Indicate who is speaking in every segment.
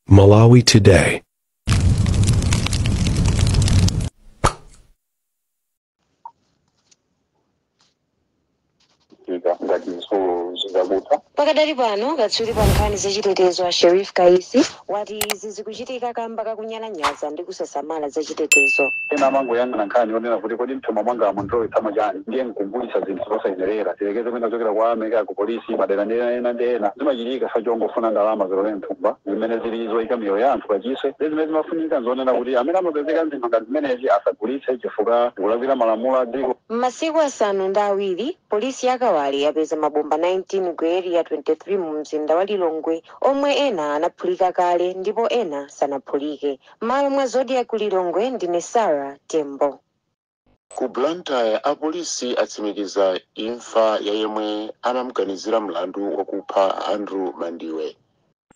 Speaker 1: Malawi Today.
Speaker 2: Pakadali pano katswiri pa nkhani zachitetezo a Sheriff Kaisi wati izi zikuchitika kamba kakunya lanyaza ndi kusasamala za chitetezo. Ena
Speaker 3: amangoyang'ana nkhani yonena kuti kodi m'thumba mwanga mulowetsa chani, ndiye n'kugulitsa zinthu zosayenerera. Tiyerekeze mwina zochokera kwa a MEC, a ku polisi, madera ndi ena ndi ena. Zimachitika chifukwa chongofuna ndalama zilowere m'thumba, zimene zili zikuika miyoyo ya anthu pachiswe. Ndiye zimene zimafunika n'zonena kuti amene amapezeka m'zinthu ngati zimenezi asagulitse chifukwa kulakwira malamulo a dziko. M'masiku asanu
Speaker 2: ndi awiri, polisi ya Kawale yapeza mabomba 19 ku Area 23 mumzinda wa Lilongwe. omwe ena anaphulika kale ndipo ena sanaphulike. Mmalo mwa Zodiak ku Lilongwe ndine Sarah Tembo. Ku
Speaker 4: Blantyre apolisi atsimikiza imfa ya yemwe anamganizira mlandu wakupha Andrew Mandiwe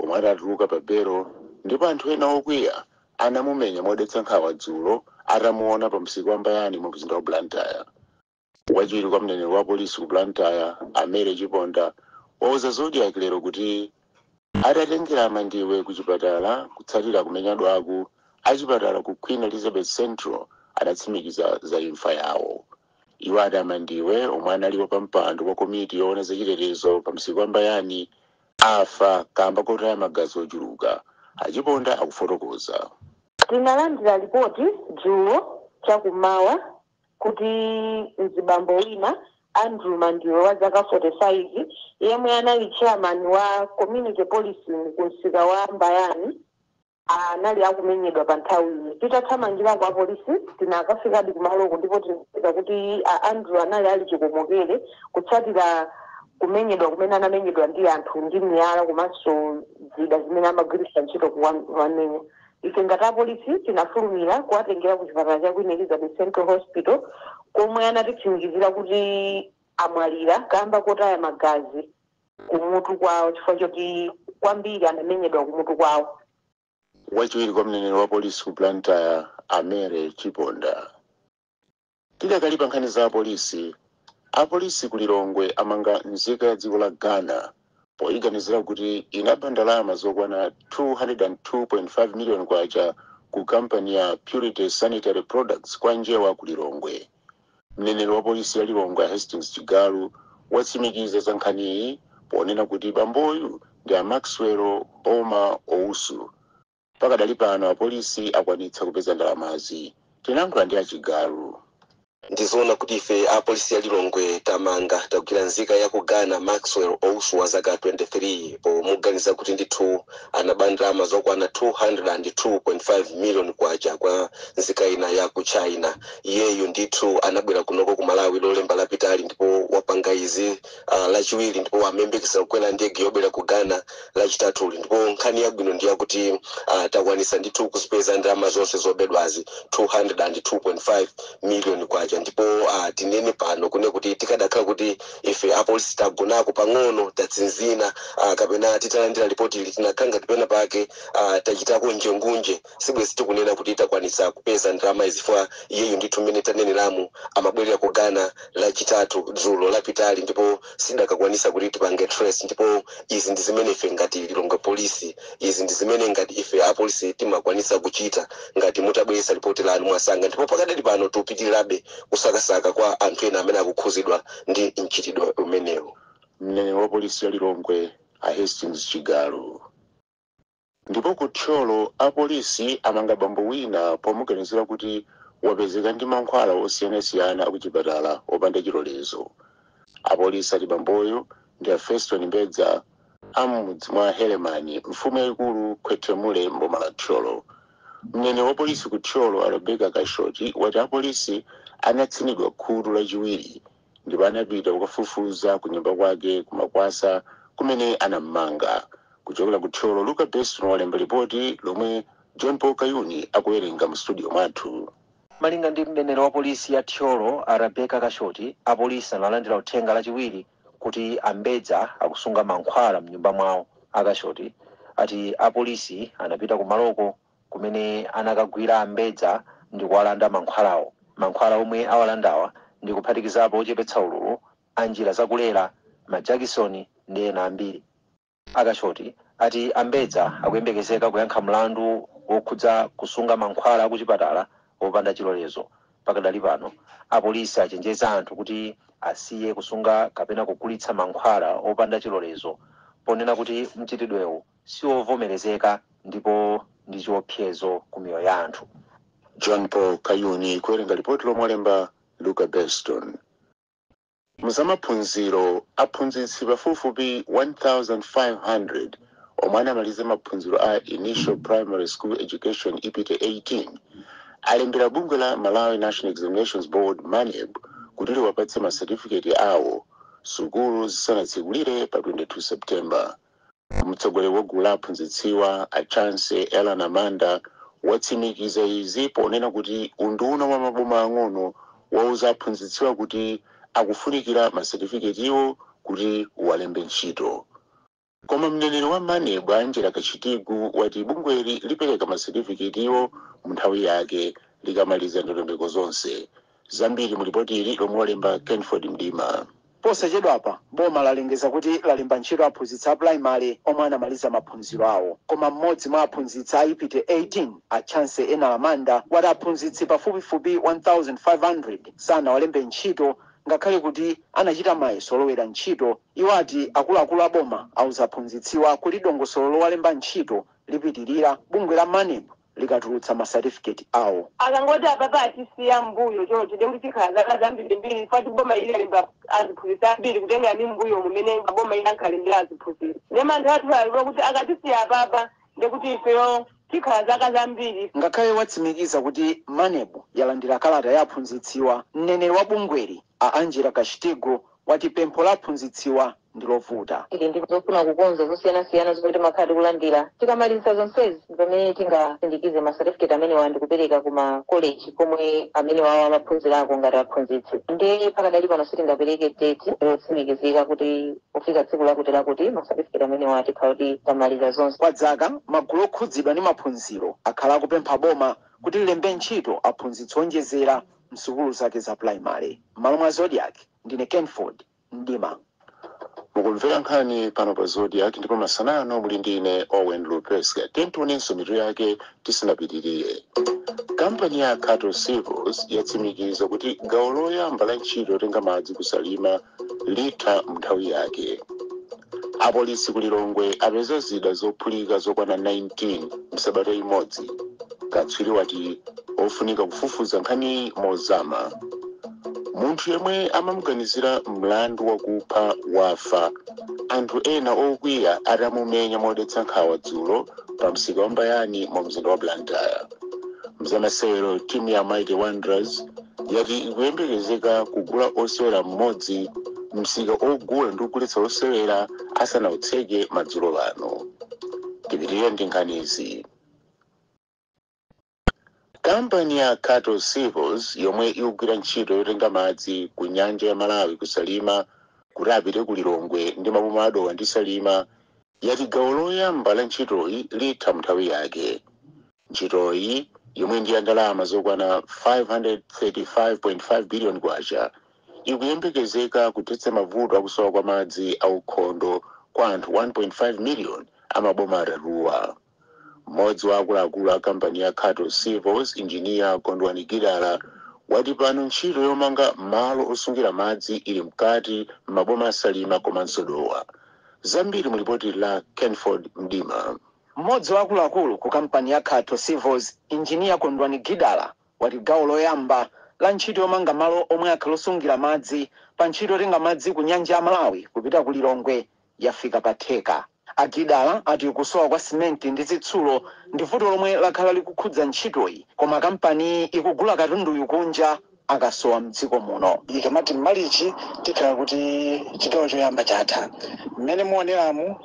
Speaker 4: omwe atatuluka pa belo ndipo anthu ena okwiya anamumenya modetsa nkhawa dzulo atamuona pa msika wa Mbayani mu mzinda wa Blantyre. Wachiwiri kwa mneneri wa polisi ku Blantyre, a Mary Chiponda, wauza Zodiak lero kuti atatengera a Mandiwe ku chipatala kutsatira kumenyadwaku, achipatala ku Queen Elizabeth Central adatsimikiza za imfa yawo. Iwo ati a Mandiwe, omwe anali wapampando wa komiti yoona za chitetezo pa msika wa Mbayani, afa kamba kotaya magazi ochuluka. A Chiponda akufotokoza. Tinalandira
Speaker 2: lipoti dzulo chakummawa kuti mzibambo wina Andrew Mandiwe wa zaka 45 yemwe anali chairman wa community policing ku msika wa Mbayani anali akumenyedwa pa nthawiyi. Titathamangirako apolisi tinakafikadi kumaloko ndipo tinapeza kuti a Andrew anali ali chikomokere kutsatira kumenyedwa kumene anamenyedwa ndi anthu ndi miyala komanso zida zimene amagwiritsa ntchito kuwamenya. Ife ngati apolisi tinafulumira kuwatengera ku chipatala cha Queen Elizabeth Central Hospital komwe anatitsimikizira kuti amwalira kamba kotaya magazi kumutu kwawo chifukwa choti kwambiri anamenyedwa kumutu kwawo. Wachiwiri
Speaker 4: kwa mneneri wa polisi ku Blantyre, a Mary Chiponda, Tidakali pa nkhani za apolisi, apolisi ku Lilongwe amanga nzika ya dziko la Ghana poyiganizira kuti inaba ndalama zokwana 202.5 miliyoni kwacha ku kampani ya Purity Sanitary Products kwa Njewa ku Lilongwe. Mneneri wa polisi ya Lilongwe a Hastings Chigalu watsimikiza za nkhaniyi ponena kuti bamboyu ndi a Maxwell Boma Owusu. Pakadali pano apolisi akwanitsa kupeza ndalamazi. Tinayankhula ndi a Chigalu.
Speaker 5: Ndizoona kuti ife a polisi ya Lilongwe tamanga, tagwira nzika ya ku Ghana Maxwell Owusu wa zaka 23 pomuganiza kuti ndithu anaba ndalama zokwana 202.5 miliyoni kwacha kwa nzika ina ya ku China. Iyeyu ndithu anabwera kunoko ku Malawi lolemba lapitali ndipo wapanga izi. ah, lachiwiri ndipo amayembekezera kukwera ndege yobwera ku Ghana lachitatuli ndipo nkhani yabwino ndi yakuti ah, takwanisa ndithu kuzipeza ndalama zonse zobedwazi 202.5 miliyoni kwacha ndipo ah, tinene pano kune kuti tikadakhala kuti ife apolisi tagonako pang'ono tatsinzina ah, kapena titalandira lipoti ili tinakhala ngati pena pake ah, tachitako njengunje sibwezi tikunena kuti takwanisa kupeza ndalamazi chifukwa iyeyu ndithu mmene taneneramu amabwerera ku Ghana lachitatu dzulo lapitali ndipo sitikadakwanisa kuti tipange trace ndipo izi ndi zimene ife ngati Lilongwe polisi izi ndi zimene ngati ife apolisi timakwanisa kuchita ngati mutabweretsa lipoti lanu mwasanga ndipo pakadali pano tikupitirirabe kusakasaka kwa anthu ena amene akukhuzidwa ndi mchitidwe umenewu mneneri wa
Speaker 4: polisi ya Lilongwe a Hastings Chigalu Ndipo ku Thyolo apolisi amanga bambo wina pomuganizira kuti wapezeka ndi mankhwala osiyanasiyana akuchipatala opanda chilolezo. Apolisi ati bamboyo ndi a Feston Mbedza a m'mudzi mwa Helemani, mfumu yaikulu Khwethemule m'boma la Thyolo. Mneneri wapolisi ku Thyolo a Rebecca Kashoti wati apolisi anatsinidwa khutu Lachiwiri ndipo anapita kukafufuza ku nyumba kwake ku Makwasa kumene anammanga kuchokera ku Thyolo Luka Beston walemba lipoti lomwe John Paul Kayuni akuwerenga mu studio mwathu malinga
Speaker 6: ndi mneneri wa polisi ya Thyolo a Rebecca Kashoti apolisi analandira uthenga lachiwiri kuti a Mbedza akusunga mankhwala mnyumba mwawo a Kashoti ati apolisi anapita kumaloko kumene anakagwira a Mbedza ndikuwalanda mankhwalawo. Mankhwala omwe awalandawa ndi kuphatikizapo ochepetsa ululu, a njira za kulera, majakisoni ndi ena ambiri. A Kashoti ati a Mbedza akuyembekezeka kuyankha mlandu wokhudza kusunga mankhwala akuchipatala opanda chilolezo. Pakadali pano, apolisi achenjeza anthu kuti asiye kusunga kapena kugulitsa mankhwala opanda chilolezo ponena kuti mchitidwewu siwovomerezeka ndipo ndi chiopsezo ku miyoyo ya anthu. John
Speaker 4: Paul Kayuni kuwerenga lipoti lomwe walemba Luka Beston. Mu zamaphunziro, aphunzitsi pafupifupi 1,500 omwe anamaliza maphunziro a Initial Primary School Education, IPTE 18, alembera bungwe la Malawi National Examinations Board, MANEB, kuti liwapatse masatifiketi awo sukulu zisanatsekulire pa 22 September. Mtsogoleri wa gulu la aphunzitsiwa, a Chancy Ellen Amanda, watsimikiza izi ponena kuti unduna wa maboma ang'ono wauza aphunzitsiwa kuti akufunikira ma setifiketiwo kuti uwalembe ntchito. Koma mneneri wa Maneb, a Angella Kashitigu, wati bungweli lipereka ma setifiketiwo munthawi yake likamaliza ndondomeko zonse. zambiri mu lipoti ili lomwe walemba Kenford Mdima.
Speaker 1: Posachedwapa boma lalengeza kuti lalemba ntchito aphunzitsi a pulayimale omwe anamaliza maphunziro awo. Koma mmodzi mwa aphunzitsi a IPTE 18, a Chancy Ellen Amanda, wati aphunzitsi pafupifupi 1,500 sanawalembe ntchito ngakhale kuti anachita mayeso olowera ntchito. Iwo ati akuluakulu a boma auza aphunzitsiwa kuti dongosolo lowalemba ntchito lipitirira. Bungwe la Maneb likatulutsa ma certificate awo. Akangoti
Speaker 2: apapa atisiya mmbuyo choncho ndekuti tikhala zaka zambirimbiri chifukwa kuti boma ili lalemba aziphunzitsi ambiri kutengera ndi mmbuyomu mmene maboma ena ankalembera aziphunzitsi. Nde mantha athu ali okuti akatisiya apapa nde kuti ifeyo tikhala zaka zambiri. Ngakhale
Speaker 1: watsimikiza kuti Maneb yalandira kalata ya aphunzitsiwa, mneneri wa bungweli a Angella Kashitigu wati pempho la aphunzitsiwa ndi lovuta. Tili ndi
Speaker 2: zofuna kukonza zosiyanasiyana zomwe timakhala tikulandira. Tikamaliza zonsezi pamene tingasindikize ma certificate amenewa ndi kupereka ku ma college komwe amenewawa amaphunzirako ngati aphunzitsi. Ndiye pakadali pano sitingapereke date yotsimikizika kuti kufika tsiku lakuti lakuti ma certificate amenewa tikhala kuti tamaliza zonse. Kwa dzaka, magulu
Speaker 1: okhudzidwa ndi maphunziro akhala akupempha boma kuti lilembe ntchito aphunzitsi owonjezera m'sukulu zake za pulayimale. M'malo mwa Zodiak, ndine Kenford Mdima. Mukumvera
Speaker 4: nkhani pano pa Zodiak ndipo masana ano muli ndi ine Owen Lupeska. Tiyeni tionenso mitu yake tisanapitirire. Kampani ya Khato Civils yatsimikiza kuti gawo loyamba la ntchito yotenga madzi ku Salima Litha m'nthawi yake. Apolisi ku Lilongwe apeza zida zophulika zokwana 19 m'sabata imodzi. Katswiri wati pofunika kufufuza nkhaniyi mozama. Munthu yemwe amamuganizira mlandu wakupha wafa anthu ena okwiya atamumenya modetsa nkhawa dzulo pa msika wa Mbayani mu mzinda wa Blantyre. Mzamasewero timu ya Mighty Wanderers yati ikuyembekezeka kugula osewera mmodzi msika ogula ndi kugulitsa osewera asanautseke madzulo ano tipitirire ndi nkhanizi kampani ya Khato Civils yomwe ikugwira ntchito yotenga madzi ku nyanja ya Malawi ku Salima kuti apite ku Lilongwe ndi maboma a Dowa ndi Salima yati gawo loyamba la ntchitoyi litha mnthawi yake Ntchitoyi, yomwe ndi ya ndalama zokwana K535.5 biliyoni, ikuyembekezeka kuthetsa mavuto a kusowa kwa madzi aukhondo kwa anthu 1.5 miliyoni a maboma atatuwa. Mmodzi wa akuluakulu a kampani ya Khato Civils, injiniya Kondwani Gidala, wati pano ntchito yomanga malo osungira madzi ili mkati m'maboma a Salima komanso Dowa. Zambiri mu lipotili la Kenford Mdima. Mmodzi
Speaker 1: wa akuluakulu ku kampani ya Khato Civils, Engineer Kondwani Gidala, wati gawo loyamba la ntchito yomanga malo omwe akhale osungira madzi pa ntchito yotenga madzi ku nyanja ya Malawi kupita ku Lilongwe yafika pa theka. A Gidala ati kusowa kwa simenti ndi zitsulo ndi vuto lomwe lakhala likukhudza ntchitoyi koma kampaniyi ikugula katunduyu kunja akasowa mdziko muno. Ikamati
Speaker 7: m'Malichi tikhala kuti chigawo choyamba chatha. Mmene muoneramu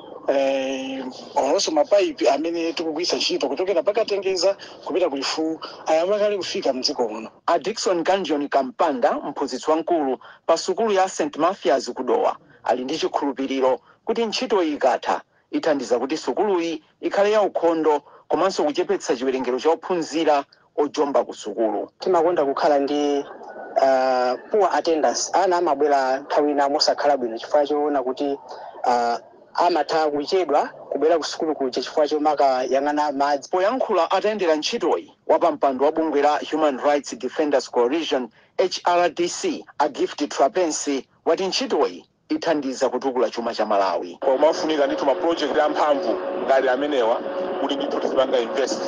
Speaker 7: olonso ma pipe amene tikugwiritsa ntchito kuchokera pa Katengeza kupita ku Lifuu ayamba kale kufika mdziko muno. A Dickson
Speaker 1: Kanjoni Kampanda, mphunzitsi wamkulu pa sukulu ya St Mathias ku Dowa, ali ndi chikhulupiriro kuti ntchitoyi ikatha, Ithandiza kuti sukuluyi ikhale yaukhondo komanso kuchepetsa chiwerengero cha ophunzira ojomba kusukulu. Timakonda kukhala ndi
Speaker 7: a poor attendance. Ana amabwera nthawi ina mosakhala bwino chifukwa choona kuti a
Speaker 8: amatha kuchedwa kubwera kusukulu kuja chifukwa chomakayang'ana madzi. Poyankhula
Speaker 1: atayendera ntchitoyi, wapampando wa bungwe la Human Rights Defenders Coalition, HRDC, a Gift Trapence wati ntchitoyi ithandiza kutukula chuma cha Malawi. Pamafunika ndithu
Speaker 9: ma project amphamvu ngati amenewa kuti ndithu tizipanga invest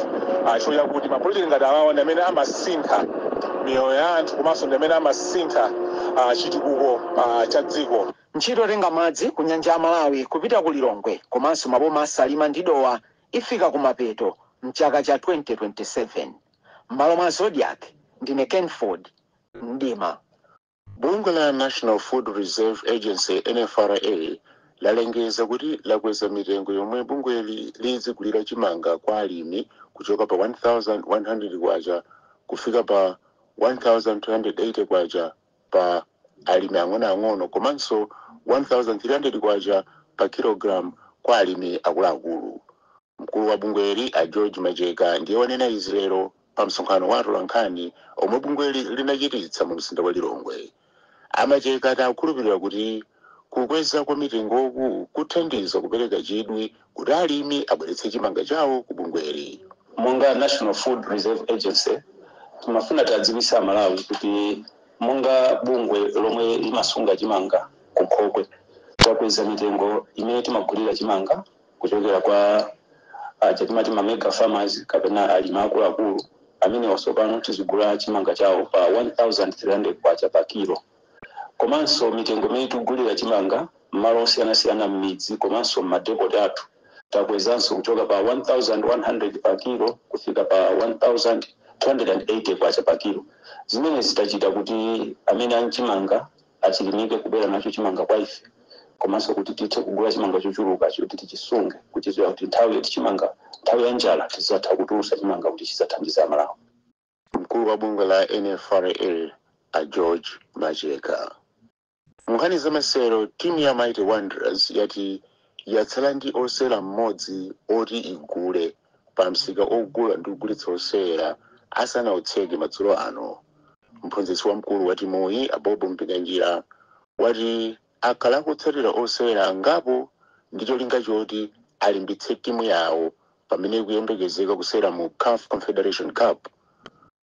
Speaker 9: chifukwa chakuti ma project ngati awawa ndi amene amasintha miyoyo ya anthu komanso ndi amene amasintha chitukuko cha dziko. Ntchito yotenga
Speaker 1: madzi ku Nyanja ya Malawi kupita ku Lilongwe komanso maboma a Salima ndi Dowa ifika kumapeto m'chaka cha 2027. M'malo mwa Zodiak, ndine Kenford Mdima. Bungwe
Speaker 4: la National Food Reserve Agency, NFRA, lalengeza kuti lakweza mitengo yomwe bungweli lidzigulira chimanga kwa alimi kuchoka pa K1,100 kufika pa K1,280 pa alimi ang'onoang'ono komanso K1,300 pa kilogalamu kwa alimi akuluakulu. Mkulu wa bungweli a George Macheka ndiye wanena izi lero pa msonkhano wa atolankhani omwe bungweli linachititsa mu mzinda wa Lilongwe. A Macheka ati akukhulupirira kuti kukweza kwa mitengoku kuthandiza kupereka chidwi kuti alimi abweretse chimanga chawo ku bungweli. Monga
Speaker 10: National Food Reserve Agency, timafuna tiadziwitse a Malawi kuti monga bungwe lomwe limasunga chimanga ku nkhokwe, takweza mitengo imene timagulira chimanga. kuchokera kwa aja timati ma mega farmers kapena alimi akuluakulu amenewa tsopano tizigula chimanga chawo pa 1300 kwacha pa kilo komanso mitengo imene tikugulira chimanga m'malo osiyanasiyana m'midzi komanso m'madepoti athu takwezanso kuchoka pa 1100 pa kilo kufika pa 1280 kwacha pa kilo zimene zitachita kuti amene ali nchimanga achilimike kubwera nacho chimanga kwa ife komanso kuti tithe kugula chimanga chochuluka choti tichisunge kuchitira kuti nthawi yoti chimanga nthawi ya njala tizatha kutulusa chimanga kuti chizathandize amalawi mkulu
Speaker 4: wa bungwe la nfra a george macheka munkhani zamasewero timu ya mighty wanderers yati yatsala ndi osewera mmodzi oti igule pa msika ogula ndi kugulitsa osewera asanautseke madzulo ano. Mphunzitsi wamkulu wa timuyi, a Bob Mpinganjira, ati akhala akutsatira osewera angapo ndi cholinga choti alimbitse timu yawo pamene ikuyembekezeka kusewera mu caf Confederation Cup.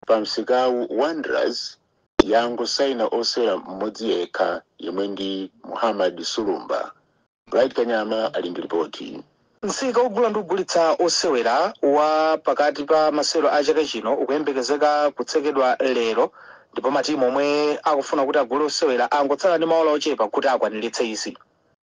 Speaker 4: Pa msikawu, Wanderers yangosaina osewera mmodzi yekha yemwe ndi Muhammad Sulumba. Bright Kanyama ali ndi lipoti. Msika ogula
Speaker 6: ndi kugulitsa osewera wa pakati pa masewero a chaka chino ukuyembekezeka kutsekedwa lero ndipo matimu omwe akufuna kuti agule osewera angotsala ndi maola ochepa kuti akwaniritse izi.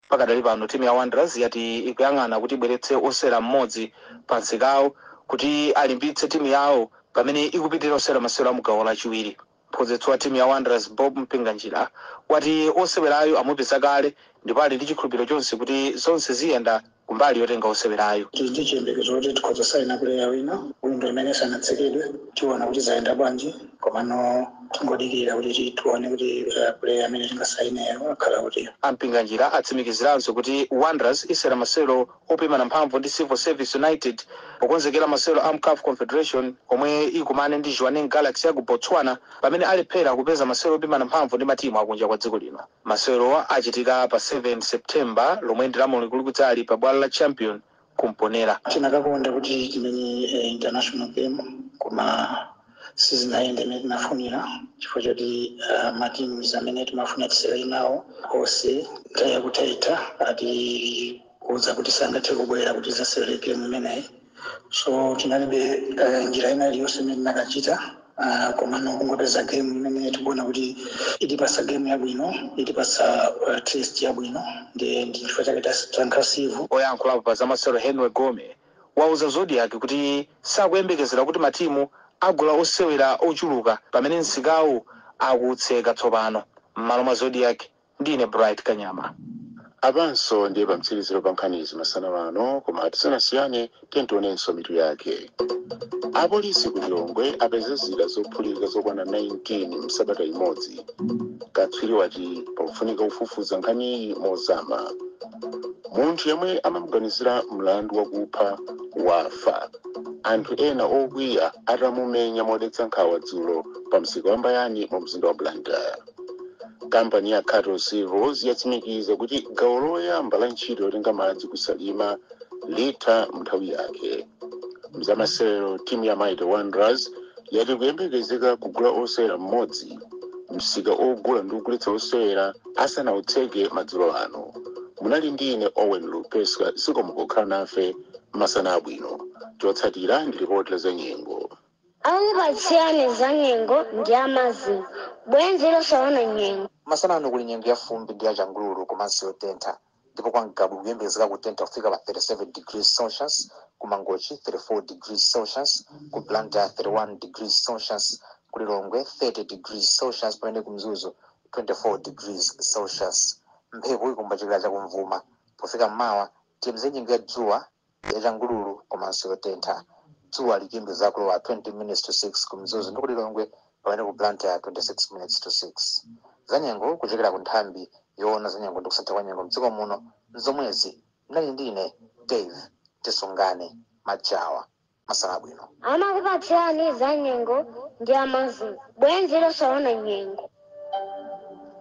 Speaker 6: Pakadali pano timu ya Wanderers yati ikuyang'ana kuti ibweretse osewera mmodzi pa msikawu kuti alimbitse timu yawo pamene ikupitilira kusewera masewero amu gawo lachiwiri. Mphunzitsi wa timu ya Wanderers, Bob Mpinganjira, wati osewerayu amupeza kale ndipo ali ndi chikhulupiriro chonse kuti zonse ziyenda kumbali yotenga osewerayu. Tili ndi chiyembekezo kuti
Speaker 7: tikhoza kusaina puleya wina, windo imene isanatsekedwe, tiona kuti zayenda bwanji komano tingodikira kuti tione kuti puleya amene tingasaineyo akhala uti. A Mpinganjira
Speaker 6: atsimikiziranso kuti Wanderers isewera masewero opimana mphamvu ndi Civil Service United pokonzekera masewero amu caf Confederation omwe ikumane ndi Jwaneng Galaxy yaku Botswana pamene alephera kupeza masewero opimana mphamvu ndi matimu akunja kwa dziko lino. Masewerowa achitika pa 7 September lomwe ndi lamulungu likudzali pa bwalo la Champion ku Mponela. Tinakakonda kuti
Speaker 7: timenye international game koma. sizinayende mmene tinafunira chifukwa choti uh, matimu amene timafuna tisewere nawo onse nthawi yakuthaitha atiuza kuti sangathe kubwera kuti azasewere gemu imeneyi so tinalibe uh, njira ina iliyonse imene tinakachita uh, komano kungopeza gemu imene tikuona kuti itipasa gemu yabwino itipasa uh, test yabwino ndi ndi chifukwa chake tasankha civo oyankhulapo pa
Speaker 6: zamasewero henry gome wauza Zodiak kuti sakuyembekezera kuti matimu agula osewera ochuluka pamene msikawu akutseka tsopano. M'malo mwa Zodiak, ndine Bright Kanyama. Apanso
Speaker 4: ndiye pamtsiriziro pa nkhanizi masana ano, koma tisanasiyane tiyeni tionenso mitu yake. Apolisi ku Lilongwe apeza zida zophulika zokwana 19 m'sabata imodzi. Katswiri wati pakufunika kufufuza nkhaniyi mozama. Munthu yemwe amamuganizira mlandu wakupha wafa anthu ena okwiya atamumenya modetsa nkhawa dzulo pa msika wa Mbayani mu mzinda wa Blantyre. Kampani ya Khato Civils yatsimikiza kuti gawo loyamba la ntchito yotenga madzi ku Salima litha m'nthawi yake. Mzamasewero timu ya Mighty Wanderers yati ikuyembekezeka kugula wosewera mmodzi msika ogula ndi kugulitsa osewera asanautseke madzulo ano. Munali ndi ine Owen Lupeska zikomo pokhala nafe. Masana abwino. Chotsatira ndi lipoti la zanyengo.
Speaker 11: Akupatsirani zanyengo ndi a MASM, bwenzi losaona nyengo. Masana ano kuli nyengo ya
Speaker 12: fumbi ndi ya changululu komanso yotentha. ndipo kwa Ngabu kuyembekezeka kutentha kufika pa 37 degrees Celsius, ku Mangochi 34 degrees Celsius, ku Blantyre 31 degrees Celsius, ku Lilongwe 30 degrees Celsius pamene ku Mzuzu 24 degrees Celsius. Mphepo ikuomba kuchokera chakumvuma. Pofika m'mawa, tiyembekezere nyengo ya dzuwa yachangululu komanso yotentha. Dzuwa likuyembekezeka kulowa 20 minutes to 6 ku Mzuzu ndi ku Lilongwe pamene ku Blantyre 26 minutes to 6. Zanyengo kuchokera ku nthambi yoona zanyengo ndi kusintha kwa nyengo mdziko muno nzomwezi. Munali ndi ine Dave Tisungane Majawa. masana abwino.
Speaker 11: Amakupatsirani za nyengo ndi a MASM, bwenzi losaona
Speaker 13: nyengo.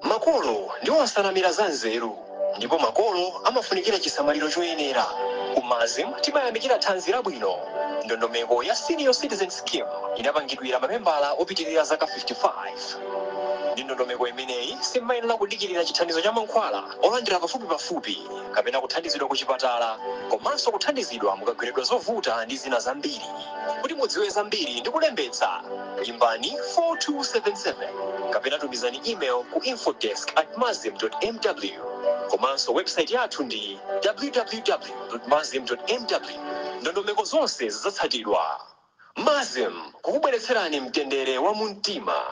Speaker 13: Makolo ndiwo nsanamira za nzeru ndipo makolo amafunikira chisamaliro choyenera. Ku MASM timayamikira thanzi labwino. Ndondomeko ya Senior Citizen Scheme idapangidwira mamembala opitirira zaka 55. Ndi ndondomeko imeneyi, simumayenera kudikirira chithandizo cha mankhwala. olandira pafupipafupi kapena kuthandizidwa kuchipatala komanso kuthandizidwa mukagweredwa zovuta ndi zina zambiri. Kuti mudziwe zambiri ndi kulembetsa, imbani 4277 kapena tumizani email ku infodesk@masm.mw. Komanso website yathu ndi www.masm.mw. Ndondomeko zonse zidzatsatidwa. MASM, kukubweretserani mtendere wa mumtima.